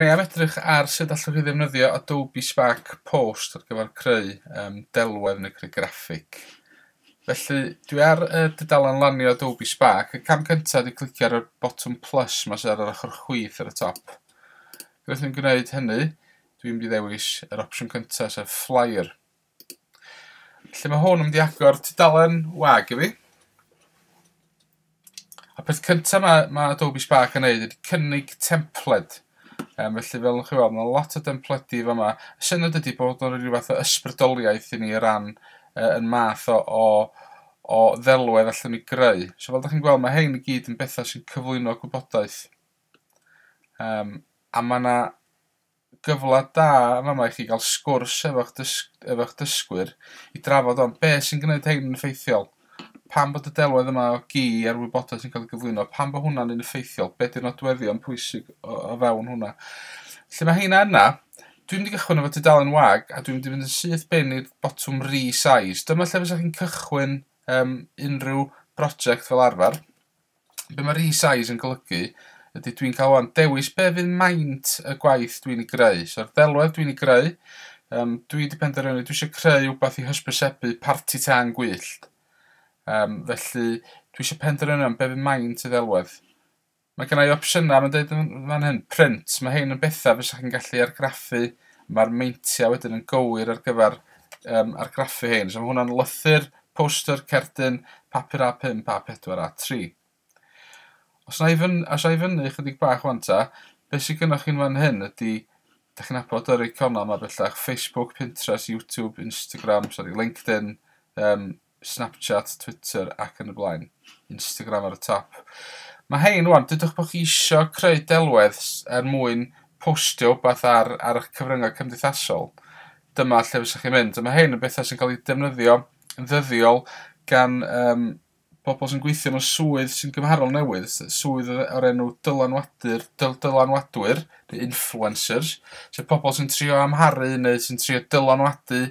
Dwi am edrych ar sut allwch chi ddefnyddio Adobe Spark Post ar gyfer creu um, delwedd neu creu graffig. Felly, dwi ar y dudalen lanio Adobe Spark. Y cam cyntaf ydy clicio ar y botwm plus mae sydd ar yr ochr chwith ar y top. Rwy'n ni'n gwneud hynny, dwi'n mynd i ddewis yr opsiwn cyntaf, sef flyer. Lle mae hwn yn mynd i agor tudalen wag i fi. A peth cyntaf mae, mae Adobe Spark yn neud ydy cynnig templed. Um, felly fel chi weld, mae lot o templedi yma. Y syniad ydy bod o'n rhyw fath o ysbrydoliaeth i ni o ran uh, yn math o, o, o ddelwedd allan ni greu. So fel da chi'n gweld, mae hein i gyd yn bethau sy'n cyflwyno gwybodaeth. Um, a mae yna gyfle da yn fama i chi gael sgwrs efo'ch dys- efo'ch dysgwyr i drafod hon. Be' sy'n gwneud hein yn effeithiol? Pam bod y delwedd yma o gi a'r wybodaeth sy'n cael ei gyflwyno, pam bod hwnna'n un effeithiol? Be' 'di'r nodweddion pwysig o o fewn hwnna? Lle mae heina yna, dwi'n mynd i gychwyn efo tudalen wag a dwi'n mynd i fynd yn syth bin i'r botwm resize. Dyma lle fysa chi'n cychwyn um, unrhyw broject fel arfer. Be mae resize yn golygu ydy dwi'n cael o'n dewis be fydd maint y gwaith dwi'n ei greu. So'r ddelwedd dwi'n ei greu, um, dwi wedi penderfynu dwi eisiau creu rhywbeth i hysbysebu parti tân gwyllt. Um, felly dwi eisiau penderfynu am be fydd maint y ddelwedd. Mae gennau opsiynau, mae'n dweud fan hyn, print. Mae hyn yn bethau bys chi'n gallu argraffu. Mae'r meintiau wedyn yn gywir ar gyfer um, argraffu hyn. So mae hwnna'n lythyr Poster, cerdyn, papur A5, A4, A3. Os na i fyn- os a i fyny chydig bach wan ta, be sy gynnoch chi'n fan hyn ydy, da chi'n abod yr eiconau ma bellach, Facebook, Pinterest, YouTube, Instagram, sorry, LinkedIn, um, Snapchat, Twitter ac yn y blaen. Instagram ar y top. Mae hein wan, dydwch bod chi isio creu delwedd er mwyn postio wbeth ar, ar eich cyfryngau cymdeithasol. dyma lle fysech chi'n mynd. A mae hyn yn bethau sy'n cael eu defnyddio yn ddyddiol gan um, bobl sy'n gweithio mewn swydd sy'n gymharol newydd, swydd o'r enw dylanwadur, dyl, dylanwadwyr, neu influencers, sef pobl sy'n trio amharu neu sy'n trio dylanwadu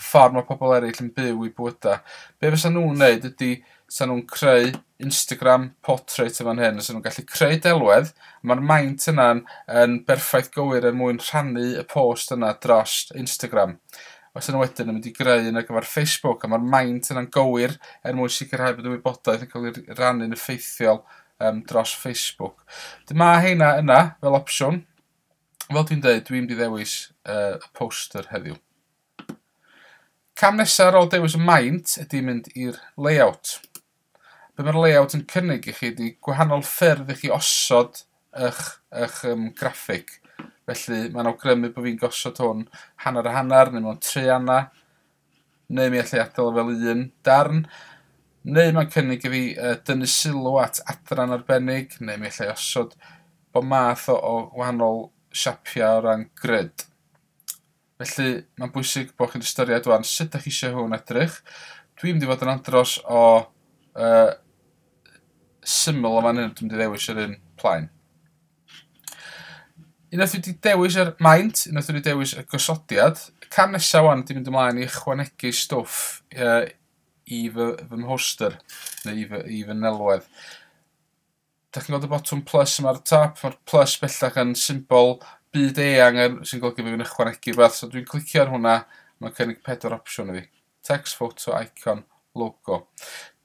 ffordd mae pobl eraill yn byw i bywydau. Be fysa nhw'n wneud ydy, fysa nhw'n creu Instagram portrait yn fan hyn so nw'n gallu creu delwedd a ma'r maint yna'n yn berffaith gywir er mwyn rhannu y post yna dros Instagram. Os yna wedyn yn mynd i greu un ar gyfer Facebook a ma'r maint yna'n gywir er mwyn sicrhau bod y wybodaeth yn cael ei rannu'n effeithiol um, dros Facebook. Dy ma heina yna fel opsiwn. Fel dwi'n dweud, dwi'n mynd i ddewis uh, y poster heddiw. Cam nesaf ar ôl dewis y maint ydy mynd i'r layout. Be mae'r layout yn cynnig i chi ydy gwahanol ffyrdd i chi osod eich, eich um, graffig. Felly mae'n awgrymu bod fi'n gosod hwn hanner a hanner neu mewn tri anna, neu mi allai adael fel un darn, neu mae'n cynnig i fi uh, dynnu sylw at adran arbennig, neu mi allai osod bod math o, o wahanol siapiau o ran grid. Felly, mae'n bwysig bod chi'n ystyried wan sut ydych chi eisiau hwn edrych. Dwi'n mynd i fod yn andros o uh, syml o fan hyn, dwi'n mynd i ddewis yr un plaen. Unwaith wedi dewis yr maint, unwaith wedi dewis y gosodiad, y cam nesaf wan ydy mynd ymlaen i ychwanegu stwff uh, i fy, fy mhoster, neu i fy, i fy nelwedd. Dach chi'n gweld y botwm plus yma ar y top? Mae'r plus bellach yn symbol byd eang er, sy'n golygu bod fi'n ychwanegu rhywbeth. So dwi'n clicio ar hwnna, mae'n cynnig pedwar opsiwn i fi. Text, photo, icon, logo.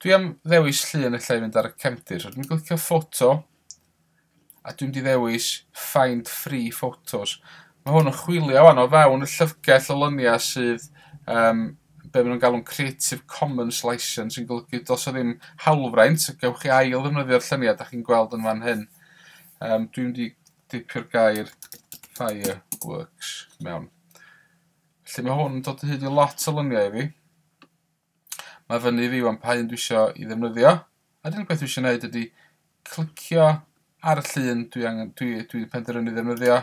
Dwi am ddewis llun y lle i fynd ar y cefndir. So dwi'n clicio photo, a dwi'n di ddewis find free photos. Mae hwn yn chwilio wan o fewn y llyfrgell o lyniau sydd um, be maen nhw'n galw'n Creative Commons Licence sy'n golygu does o ddim hawlfraint, gewch chi ail ddefnyddio'r lluniau da chi'n gweld yn fan hyn. Um, dwi'n di dipio'r gair fireworks mewn. Felly mae hwn yn dod o hyd i lot o luniau i fi. Mae fyny i fi wan pa un dwi eisiau i ddefnyddio. A'r unig beth dwi eisiau gwneud ydy clicio ar y llun dwi, angen, dwi, dwi penderfynu ddefnyddio.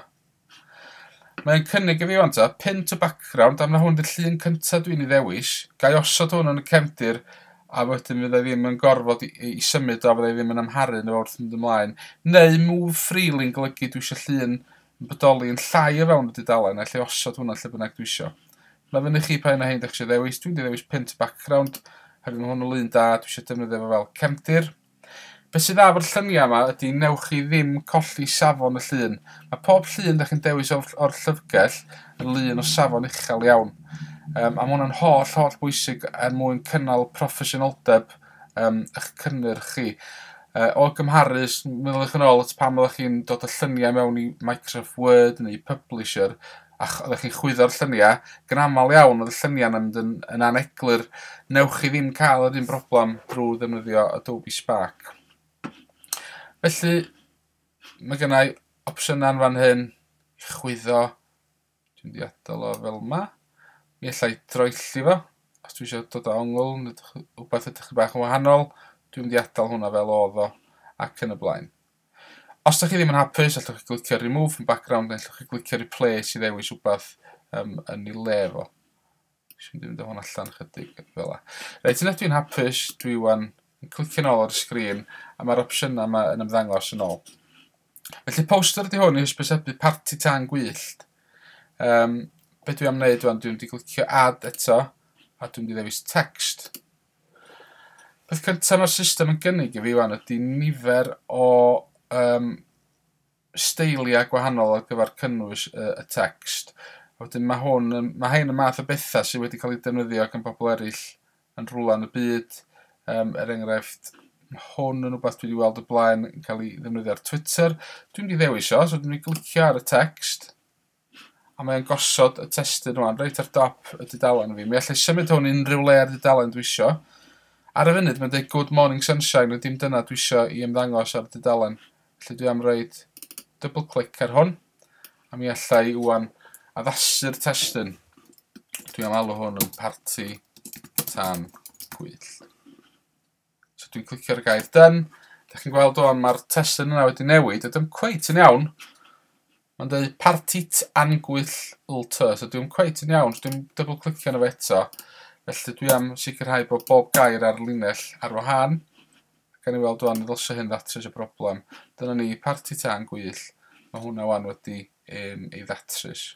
Mae'n cynnig i fi o'n ta, pin to background, am na hwn dy'r llun cyntaf dwi'n ei ddewis. Gai osod hwn yn y cefndir a wedyn fyddai ddim yn gorfod i, i, i symud o, fyddai ddim yn amharu yn wrth mynd ymlaen. Neu move freely yn golygu dwi eisiau llun yn bodoli yn llai o fewn y dudalen a lle osod hwnna lle bynnag dwi eisiau. Mae fyny i chi pa un o hein dych chi eisiau ddewis. Dwi'n ddewis pint background, hefyd mae hwn yn lun da, dwi eisiau defnyddio fo fel cefndir. Beth sydd dda bod lluniau yma ydy newch chi ddim colli safon y llun. Mae pob llun dych chi'n dewis o'r, or llyfrgell yn lun o safon uchel iawn. Um, a mae hwnna'n holl, holl bwysig er mwyn cynnal proffesiynoldeb um, eich cynnyrch chi. Uh, o gymharu, meddwl eich yn ôl at pan oeddech chi'n dod o lluniau mewn i Microsoft Word neu Publisher, A ch- oddech chi'n chwyddo'r llynia', ac yn amal iawn odd y llynia'n yn mynd yn yn aneglur. Newch chi ddim ca'l yr un broblam drw ddefnyddio Adobe Spark. Felly ma' gynnai opsiyna yn fan hyn i chwyddo. Dwi'n mynd i adal o fel 'ma. Mi ellai droelli fo os dwi isio dod â ongl ne' wbath edrych 'n bach yn wahanol. Dwi'n mynd i adal hwnna fel odd o ac yn y blaen. Os dach chi ddim yn hapus, allwch chi glicio remove from background neu allwch chi glicio replace i ddewis wbeth um, yn ei le fo. Dwi'n mynd i fynd o hwn allan chydig fel la. Reit, yna dwi'n hapus, dwi wan yn clicio'n ôl ar y sgrin a mae'r opsiynau yma yn ymddangos yn ôl. Felly poster ydy hwn i hysbysebu parti tan gwyllt. Um, be dwi am wneud wan, dwi'n mynd i glicio add eto a dwi'n mynd i ddewis text. Peth cyntaf mae'r system yn gynnig i fi wan ydy nifer o um, steiliau gwahanol ar gyfer cynnwys y, y text. A wedyn mae hwn, mae hyn y math o bethau sydd wedi cael ei defnyddio gan bobl eraill yn rhwla yn y byd. Um, er enghraifft, mae hwn yn rhywbeth dwi wedi weld y blaen yn cael ei ddefnyddio ar Twitter. Dwi'n mynd i ddewis o, so dwi'n mynd i glicio ar y text. a mae o'n gosod y testun rwan reit ar dop y dudalen fi. Mi allai symud hwn unrhyw le ar dudalen dwi isio. Ar y funud mae'n dweud Good Morning Sunshine, ond dim dyna dwi isio i ymddangos ar y dudalen. Felly dwi am roed double click ar hwn, a mi allai wwan addasu'r testun. Dwi am alw hwn yn parti tan gwyllt. So dwi'n clicio ar y gair done. Da chi'n gweld o'n mae'r testyn yna wedi newid. Ydym cweit yn iawn. Mae'n dweud partit angwyll lto. So dwi'n cweit yn iawn. So dwi'n double clicio yna fe eto. Felly dwi am sicrhau bod bob gair ar linell ar wahân. Gan i weld o'n ddylsio hyn ddatrys y broblem. Dyna ni, partit angwyll. Mae hwnna wan wedi um, ei ddatrys.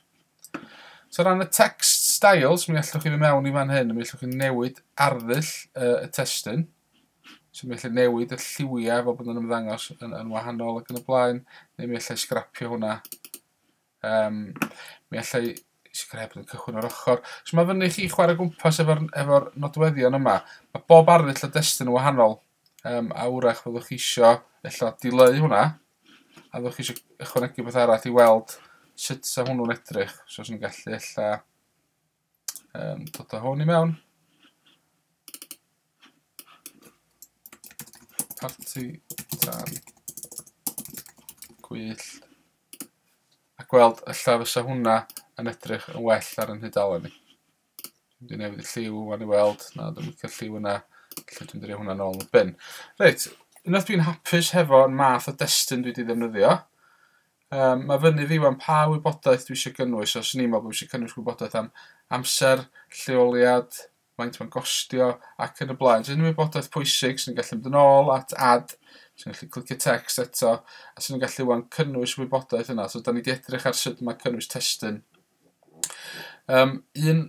So ran y text styles, mi allwch chi fy mewn i fan hyn, mi allwch chi newid arddull uh, y testyn. So mi allwch newid y lliwiau fel bod nhw'n ymddangos yn, yn wahanol ac yn y blaen, neu mi allai sgrapio hwnna. Um, mi allai sgrep yn cychwyn o'r ochr. So mae fyny chi chwarae gwmpas efo'r efo nodweddion yma. Mae bob arddull o destyn yn wahanol. Um, a wrach fyddwch chi isio ella dileu hwnna, a fyddwch chi isio ychwanegu beth arall i weld sut sa hwnnw'n edrych. So os ni'n gallu ella um, dod o hwn i mewn. Parti dan gwyll. A gweld ella fysa hwnna yn edrych yn well ar yn hydalen ni. Dwi wedi newid y lliw wan i weld. Na, dwi'n licio lliw yna. Felly dwi'n drio hwnna nôl yn bin. Reit, unwaith dwi'n hapus hefo'r math o destun dwi wedi ddefnyddio, um, mae fyny fi wan pa wybodaeth dwi eisiau gynnwys. Os ni'n meddwl bod eisiau cynnwys wybodaeth am amser, lleoliad, faint mae'n gostio ac yn y blaen. Os unrhyw wybodaeth pwysig sy'n gallu mynd yn ôl at ad, sy'n gallu clicio text eto, a sy'n gallu wan cynnwys wybodaeth yna. So, da ni wedi edrych ar sut mae cynnwys testun Yym un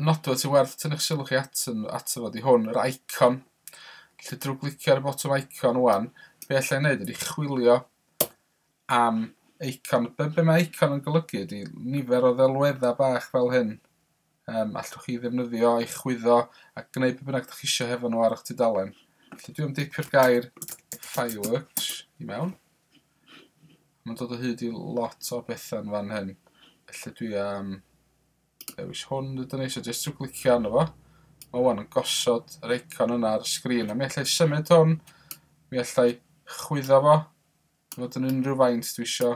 nodwedd sy'n werth tynnu'ch sylw chi at ato fo 'di hwn, yr icon. Felly drwy glicio ar y botwm icon ŵan, be alla i wneud ydy chwilio am icon. Be, be mae icon yn golygu ydy nifer o ddelweddau bach fel hyn. Um, allwch chi ddefnyddio i chwyddo a gwneud beth bynnag ydych chi eisiau hefo nhw ar eich tudalen. Felly dwi'n deipio'r gair fireworks i mewn. Mae'n dod o hyd i lot o bethau'n fan hyn. Felly dwi am dewis hwn ydyn ni, so jyst trwy glicio arno fo. Mae wan yn gosod yr eicon yna ar y sgrin, a mi allai symud hwn, mi allai chwyddo fo, fod yn unrhyw faint dwi isio.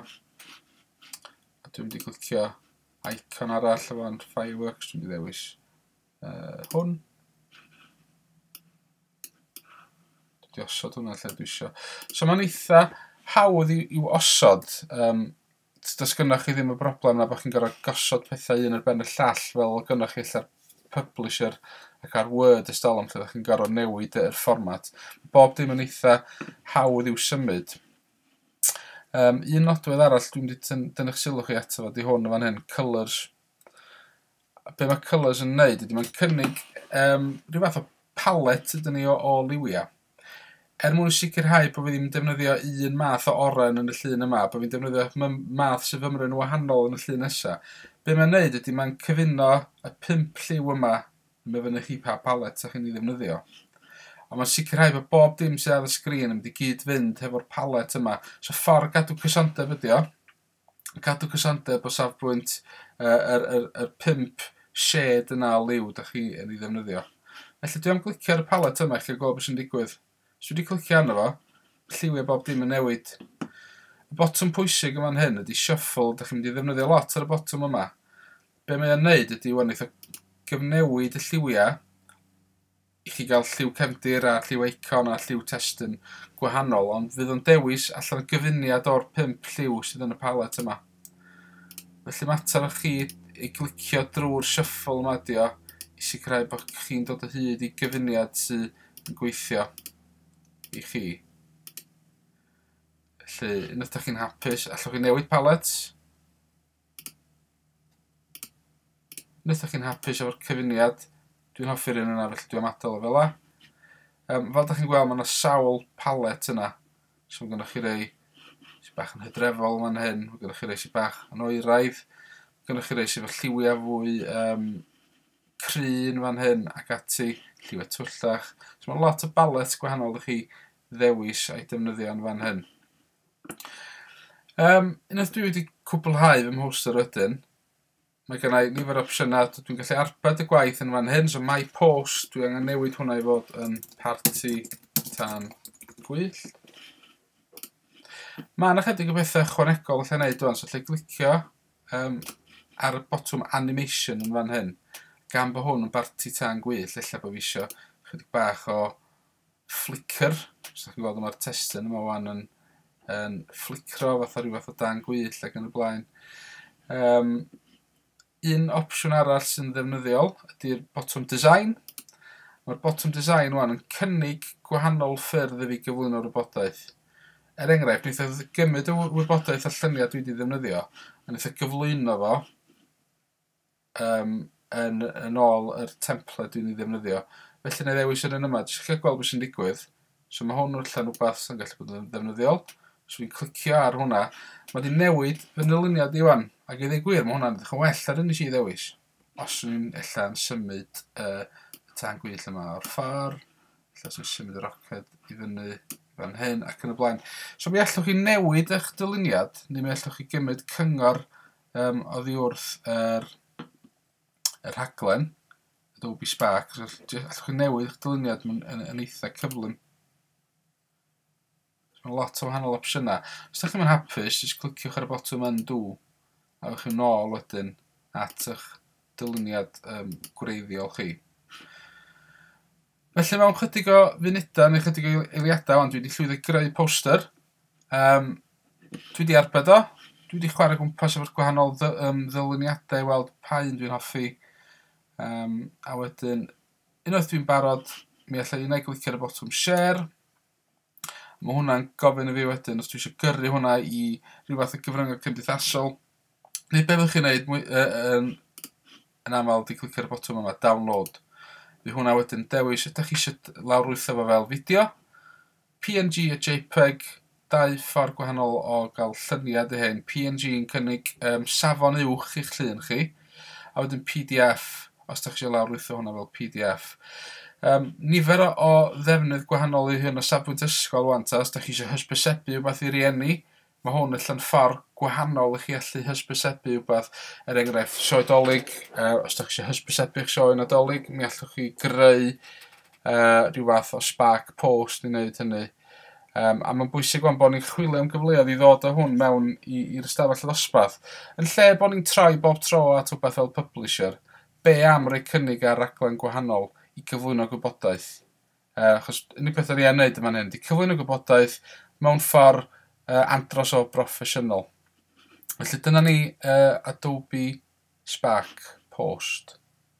A dwi'n mynd i glicio icon arall efo yn Fireworks, dwi'n mynd i ddewis uh, hwn. Dwi osod hwnna lle dwi isio. So mae'n eitha hawdd i, i osod. Um, does gynnwch chi ddim y broblem na bod chi'n gorfod gosod pethau un ar ben y llall fel gynnwch chi allan publisher ac ar Word ystolwm lle ydych chi'n gorfod newid yr fformat. Bob dim yn eitha hawdd i'w symud. Um, un nodwedd arall dwi'n wedi dyn, dynnu'ch sylw chi ato fo, di hwn yn fan hyn, colours A be mae Colours yn wneud ydy mae'n cynnig um, rhyw fath o palet ydyn ni o, o liwiau. Er mwyn sicrhau bod fi ddim yn defnyddio un math o oren yn y llun yma, bod fi'n defnyddio math sy'n fymryn wahanol yn y llun nesaf. Be mae'n wneud ydy mae'n cyfuno y pimp lliw yma yn myfynu chi pa palet ydych chi'n ei ddefnyddio. Ond mae'n sicrhau bod bob dim sydd ar y sgrin yn mynd i gyd-fynd hefo'r palet yma. So ffordd gadw cysondeb ydy o. cadw cysondeb o safbwynt yy yr yr yr pump shed yna o liw 'dach chi yn 'i ddefnyddio. Felly dwi am glicio ar y palet yma i chi gweld be' sy'n digwydd. Os dwi 'di clicio arno fo, lliwie bob dim yn newid. Y botwm pwysig yn fan hyn ydi shuffle, 'dach chi'n mynd i ddefnyddio lot ar y botwm yma. Be' mae o'n neud ydi 'wan eitha gyfnewid y lliwia' i chi gael lliw cefndir a lliw eicon a lliw testun gwahanol, ond fydd o'n dewis allan gyfuniad o'r pump lliw sydd yn y palet yma. Felly mater o chi i glicio drwy'r shuffle yma ydi o, i sicrhau bod chi'n dod o hyd i gyfuniad sydd yn gweithio i chi. Felly, yn ydych chi'n hapus, allwch chi newid palets, Wnaethoch chi'n hapus efo'r cyfuniad? Dwi'n hoffi'r un yna, felly dwi'n adael o fel la. Um, fel da chi'n gweld, mae yna sawl palet yna. So mae gennych chi rei sy'n bach yn hydrefol fan hyn, mae gennych chi rei sy'n bach yn oeraidd, mae gennych chi rei sy'n fy lliwiau fwy um, cryn fan hyn ac ati, lliwiau twyllach. So mae lot o balets gwahanol ydych chi ddewis a'i defnyddio yn fan hyn. Yym, unwaith dwi wedi cwblhau fy mhostio rydyn, mae gen i nifer o opsiynau, dwi'n gallu arbed y gwaith yn fan hyn, so my post, dwi angen newid hwnna i fod yn parti tan gwyll. Mae yna chydig o bethau chwanegol allai wneud dwi'n, so lle glicio um, ar y botwm animation yn fan hyn, gan bod hwn yn barti tan gwyll, lle bod fi eisiau chydig bach o flicker, os dach chi'n gweld o ma'r testun yma wan yn yn fflicro fatha rhyw fath o dan gwyll ac yn y blaen. Um, un opsiwn arall sy'n ddefnyddiol ydy'r bottom design. Mae'r bottom design wan yn cynnig gwahanol ffyrdd i fi gyflwyno'r wybodaeth. Er enghraifft, wnaeth oedd gymryd y wybodaeth a lluniau dwi wedi ddefnyddio, a wnaeth oedd gyflwyno fo Yym, yn yn ôl yr templed dwi'n ei ddefnyddio. Felly wna i ddewis yr un yma, jyst lle gweld beth sy'n digwydd. So mae hwn allan rhywbeth sy'n gallu bod yn ddefnyddiol. So fi'n clicio ar hwnna. Mae wedi newid fy nyluniad i wan. Ac i ddweud gwir, mae hwnna'n edrych yn well ar un nes i ddewis. Os yw'n ella yn symud uh, y tan gwyll yma o'r ffordd, lle sy'n symud y roced i fyny fan hyn ac yn y blaen. So mi allwch chi newid eich dyluniad, neu mi allwch chi gymryd cyngor Yym, oddi wrth yr, y rhaglen, Adobe Spark, so all- j- allwch chi newid eich dyluniad yn, yn, yn eitha cyflym. So, Mae lot o wahanol opsiynau. Os ydych chi'n mynd hapus, jyst cliciwch ar y botwm undo, a ewch chi'n ôl wedyn at eich dyluniad um, gwreiddiol chi. Felly mewn chydig o funudau neu chydig o eiliadau ond dwi wedi llwyddo i greu poster. Um, dwi wedi arbed o. Dwi wedi chwarae gwmpas efo'r gwahanol ddy, um, ddylyniadau i weld pa un dwi'n hoffi. Um, a wedyn, unwaith dwi'n barod, mi allai un ei glicio ar y botwm share. Mae hwnna'n gofyn i fi wedyn os dwi eisiau gyrru hwnna i rhyw fath o gyfryngau cymdeithasol. Neu be fyddwch chi'n neud mwy, uh, um, yn aml di clic ar y botwm yma, download. Fi hwnna wedyn dewis ydych chi eisiau lawrlwytho fo fel fideo, PNG a JPEG, dau ffordd gwahanol o gael lluniau dy hyn. PNG yn cynnig um, safon uwch i'ch llun chi, a wedyn pdf os da chi eisiau lawrlwytho hwnna fel pdf. Um, nifer o, o ddefnydd gwahanol i hyn o safbwynt ysgol wan, ta, os da chi eisiau hysbysebu rhywbeth i rieni, mae hwn allan ffordd gwahanol i chi allu hysbysebu rhywbeth, er enghraifft, sioe dolyg, uh, os da chi eisiau hysbysebu eich sioe nadolig, mi allwch chi greu uh, rhyw fath o spark post i wneud hynny. Um, a mae'n bwysig o'n bod ni'n chwilio am gyfleoedd i ddod o hwn mewn i'r ystafell ddosbarth. Yn lle bod ni'n troi bob tro at rhywbeth fel publisher, be am roi cynnig ar raglen gwahanol i gyflwyno gwybodaeth? Uh, achos unig peth yr i'n neud yma'n hyn, di cyflwyno gwybodaeth mewn ffordd uh, andros o broffesiynol. Felly dyna ni uh, Adobe Spark Post.